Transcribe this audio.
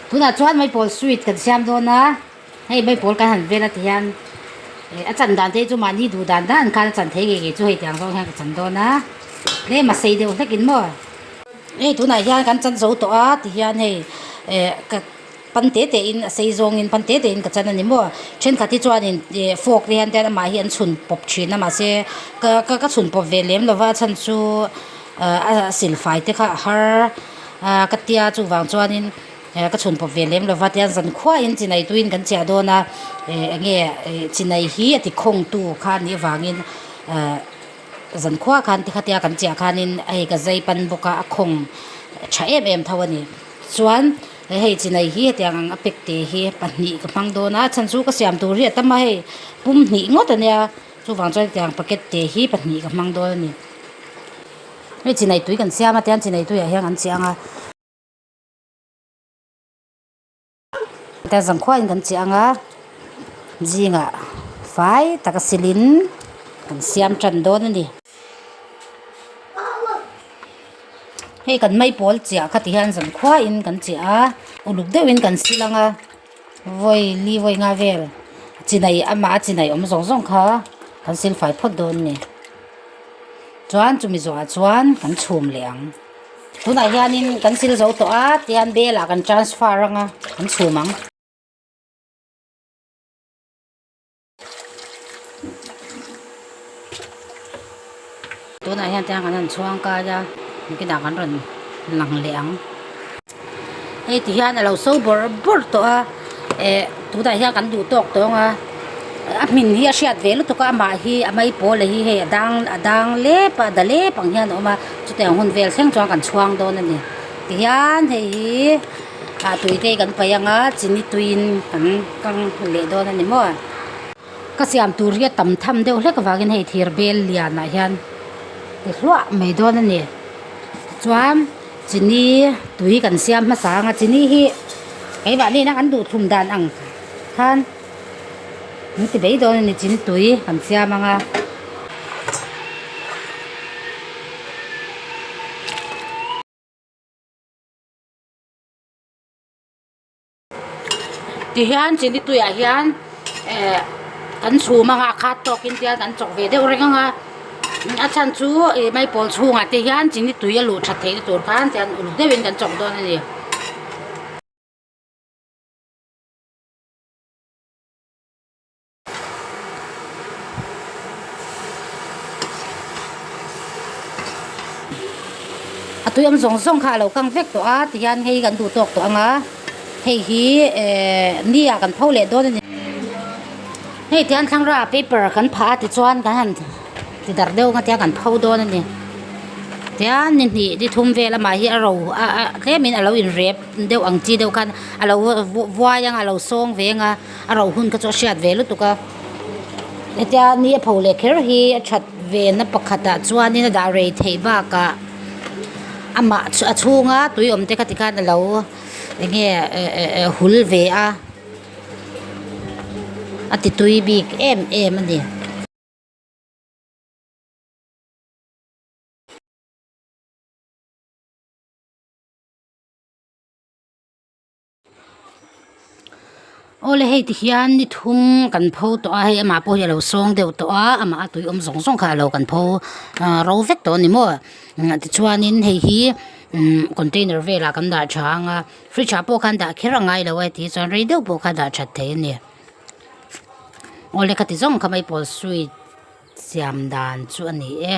Tunah chuan Maipawh sweet kan siam dawn a, hei Maipawh kan han vel ati hian a chan dan te chu mahni duh dan dan khan a chan thei ngei ngei chu hei tiang zawng hian ka chan dawn a, tlema sei deuh hlekin maw. Hei tunah hian kan chan zo tawh a ti hian hei ka pan teh teh in a sei zawng in pan teh teh in ka chan a ni maw. Thenkhat hi chuan in fork te hian an mah hi an chhun pawp thin a mahse ka ka chhun pawp ve lem lova a chhan chu a silfai te kha a har. Ahh ka tia chuvang chuanin ehh ka chhun pawp ve lem lova tian zan khuaiin chi nei tuiin kan chiah dawn a ehh enge ehh chi nei hi a ti khawngtu kha a nih avangin ehh zan khua khan tikha tia kan chiah khanin a hei ka zai pan bawk a a khawng tha em em tho a ni chuan a hei chi nei hi heti ang ang a pack te hi pahnih ka hmang dawn a a chhan chu ka siam tur hi a tam a hei pum hnih ngawt a nia. Chuvang chuan tiang packet te hi pahnih ka hmang dawn a ni. Hei chi neitui kan siam atiang chi neitui ah hian an cheh ang a. Hetiang zang khuai in kan cheh ang a. Zing ah fai taka sil in kan siam tan dawn a ni. Hei kan mai pawl chiah kha ti hian zan khuai in kan cheh a. Uluk deuh in kan sil ang a. Vawi li vawi nga vel chi neih amah a chi neih awm zawng zawng kha kan sil fai phawt dawn a ni. Chuan chumi zawhah chuan kan chhum leh ang. Tunah hianin kan sil zo tawh a tian belah kan transfer anga kan chhum ang. tunah hian tiang kan han chhuang kai a engtinah kan rawn lang leh ang hei ti hian a lo so bawr bawr tawh a eh tunah hian kan duh tawk tawng a a hmin hi a hriat ve lutuk a amah hi a mai pawl leh hi hei a dang a dang lep a a da lep ang hian a awm a chutiang hun vel thleng chuan kan chhuang dawn a ni tihian hei hi-- Aa tui te hi kan paih anga chini tuiin kan kang leh dawn a ni maw? Ka siam tur hi a tam tham deuh hlek avangin hei thir bel lianah hian ti hluah mai dawn a ni. Tichuan chini tui kan siam hmasa anga chini hi keimahni ina kan duh thlum dan ang khan an ti mai dawn a ni. Chini tui kan siam anga. Tihian chu nituiah hian ehh kan chhum a nghah khat tawk in tihian kan chawk ve deuh reng ang a a chhan chu ih mai pawl chhungah te hian chu ni tui a luh that theihna tur khan tian uluk deuh in kan chawk dawn a ni. a tuiawm zawng zawng kha a lo kang vek tawh a tihian hei hi kan duh tawk tawh ang a hei hi ehh ni ah kan pho leh dawn a ni hei tihian thlangrah ah paper kan phah a tichuan kan han ti dar deuh ang atiang kan pho dawn a ni tian ni hnih ni thum vel a mah hi a ro tlem in a lo in rep deuh ang chi deuh khan a lo vuai ang a lo sawng ve ang a. a rauh hun kha chu a hriat ve lutuk a hetia ni a pho leh kher hi a that ve na pakhat ah chuan in a dah rei theih bak ah amah a chhung a tui awm te kha ti khan alo eng nge eh hul ve a a ti tui bik em em a ni. Awle hei ti hian ni thum kan pho tawh a hei amah pawh hi a lo sawng deuh tawh a amah a tui awm zawng zawng kha a lo kan pho aah ro vek tawh a ni maw ah tichuanin hei hi umm container velah kan dah tha ang a fridge ah pawh khan dah kher a ngai lo a tih chuan rei deuh pawh kha dah that theih a ni awle khati zawk ang kha maipawlh sweet siam dan chu a ni e.